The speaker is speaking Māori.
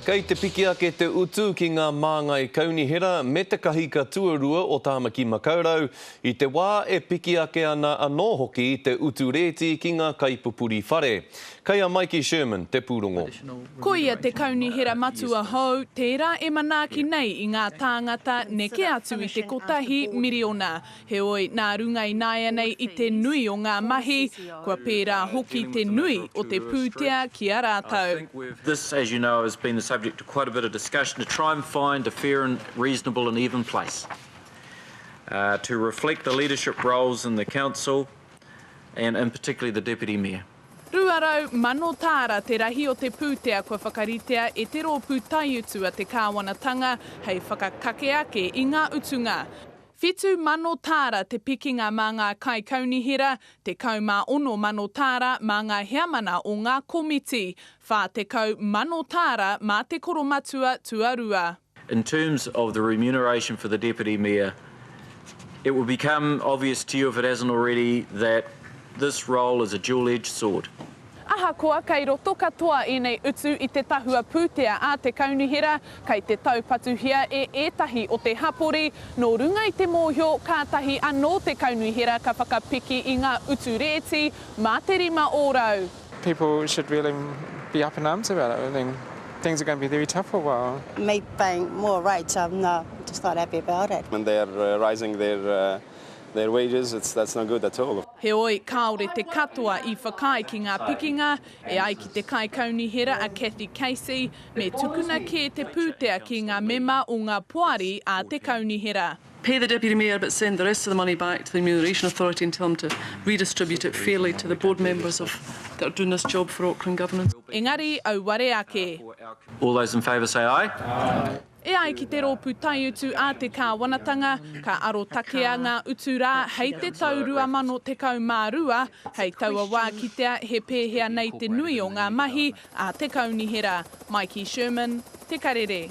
Kei te piki ake te utu ki ngā māngai kaunihera me te kahika tuarua o Tāmaki Makaurau, i te wā e piki ake ana anō hoki te utu rēti ki ngā kaipupuri whare. Kei a Maiki Sherman te pūrongo. Ko ia te kaunihera matua hou, tērā e manaaki nei i ngā tāngata neke atu i te kotahi miriona. Heoi, nā runga ināianei i te nui o ngā mahi, kua pērā hoki te nui o te pūtea ki a rātou. This, as you know, has been the subject of quite a bit of discussion to try and find a fair and reasonable and even place to reflect the leadership roles in the council and in particularly the Deputy Mayor. 200 mano tāra te rahi o te pūtea kua whakaritea e te rōpū taiutu a te Kāwanatanga hei whakakake ake i ngā utunga. Whitu mano tāra te pikinga mā ngā kaikaunihera, tekau mā ono mano tāra mā ngā heamana o ngā komiti, whā tekau mano tāra mā te koromatua tuarua. In terms of the remuneration for the Deputy Mayor, it will become obvious to you if it hasn't already that this role is a dual-edged sword. Ahakoa kei roto katoa ēnei utu i te tahua pūtea a te Kaunihera, kei te taupatuhia e ētahi o te hapori, nō runga i te mōhio kātahi anō te Kaunihera ka whakapiki i ngā utu rēti mā te rima ōrau. People should really be up in arms about it, I mean, things are going to be very tough for a while. Making more rights, I'm not just not happy about it. And they are raising their Their wages, it's, that's no good at all. Heoi, kāore te katoa i whakaae ki ngā pikinga, e ai ki te Kaikaunihera a Cathy Casey, me tukuna kē te pūtea ki ngā mema o ngā poari a te Kaunihera. Pay the Deputy Mayor but send the rest of the money back to the Remuneration Authority and tell them to redistribute it fairly to the board members of, that are doing this job for Auckland Governance. Engari, auare ake. All those in favour say aye. Aye. E ai ki te rōpū taiutu a te kāwanatanga, ka arotakea ngā utu rā hei te tau 2012, hei taua wā kitea he pēhea nei te nui o ngā mahi a te Kaunihera. Maiki Sherman, Te Karere.